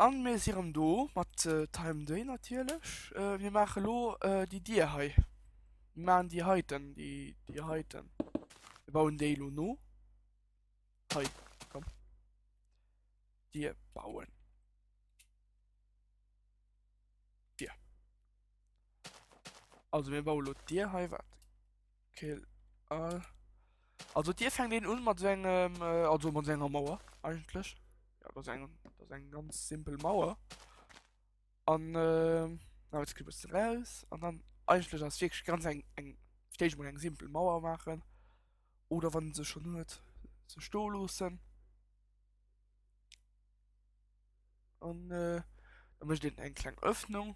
An mir si rem do mat Time Day natierlech. Mir maache lo déi Dier hei. Mir maachen déi heiten, déi Dier heiten. Mir bauen déi lo no. Hei, komm. Dier bauen. Dier. Also mir bauen lo d'Dier hei, wat? Kill all. Also dir fängt den un mat engem äh, also mat enger Mauer eigentlich. Ja, das eng das eng ganz simpel Mauer. An äh, na jetzt kriegst du raus an dann eigentlich das wirklich ganz eng eng ich mal eng simpel Mauer machen oder wann sie schon hört ze sto losen. An äh, dann möchte den eng kleine Öffnung.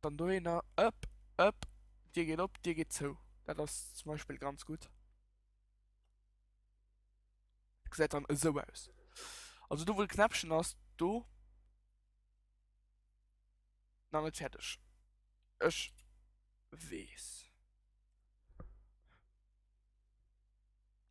Dann dohinner ëpp, ëpp, Dir geet op, Dir geet zou. Dat ass zum Beispill ganz gutt. Gesäit dann esou aus. Also do wou de Knäppchen ass, do. Nach net fäerdeg. Ech weess.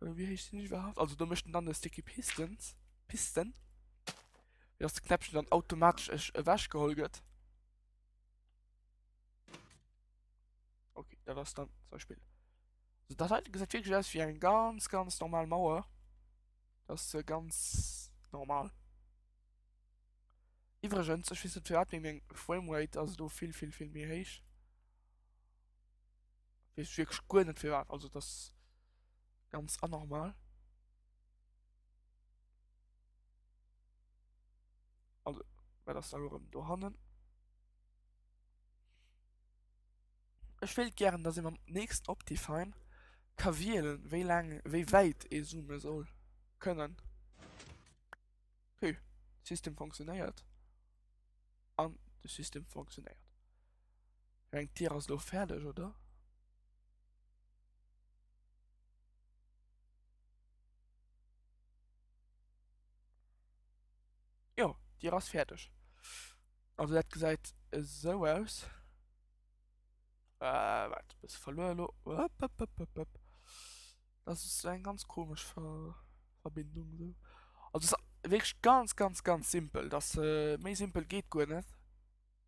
Wéi héich sinn ech iwwerhaapt? Also do mécht en dann e Sticky Pistons, Pisten. Wéi ass de Knäppchen dann automatesch ech ewech geholl gëtt. Okay, dat ass dann zum Beispill. So, dat heiten gesäit wierklech aus wéi eng ganz, ganz normal Mauer. Dat ass ganz normal. Iwwregens, ech weess net firwat, mee meng Framerate ass do vill, vill, vill méi héich. Weess wierklech guer net firwat, also dat. Ganz anormal. Also, wat ass da lo rëm dohannen? Ech wéilt gären, dass ee mam nächsten Optifine ka wielen, wéi laang, wéi wäit ee zoome soll kënnen. Hu, System funktionéiert. An de System funktionéiert. Ech mengen, d'Tier ass elo fäerdeg, oder? Jo, Dir ass fäerdeg. Also dat gesäit esou aus. Äh, waart, bësse verluer elo. Oppopopopop. Dat ass eng ganz komesch Verbindung esou. Also se ass wierklech ganz ganz ganz simpel. Dat ass méi simpel geet guer net.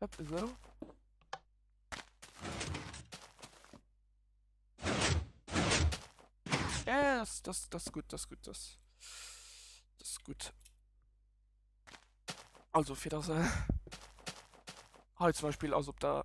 Hëpp, esou. Yes, das, das gut, das gut, das. Das gut. Also fir dat se hei zum Beispiel ass op der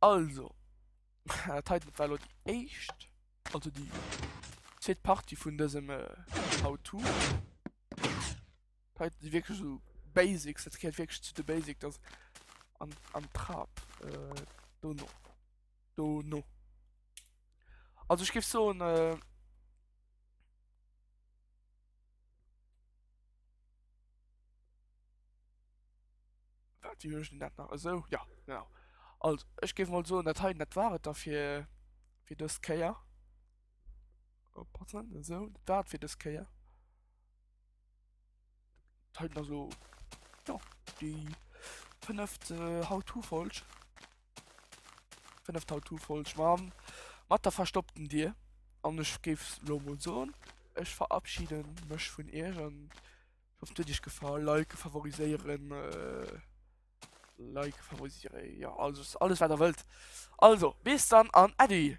Also, dat heiten war elo déi éischt, also déi zweet Partie vun dësem äh, How-To. Heiten si wierklech so Basics, dat gehéiert wierklech zu de Basic, dass an, an Trab äh, do no. Do no. Also ich gebe so ein äh, Wat hun ech den dat nach esou jo genau. Also ech géif mol soen dat hei dat war et da fir fir dës Kéier. Oppassen esou dat war et fir dës Kéier. Dat heiten also jo déi fënneft How-to-Folg. Fënneft How-to-Folg mam mat der verstoppten Dir an ech géif lo mol soen ech verabschieden mech vun Iech an Ich hoffe, dich gefallen. Like favorisieren. Äh, like favorisieren. Ja, also alles, was ihr wollt. Also, bis dann an Adi.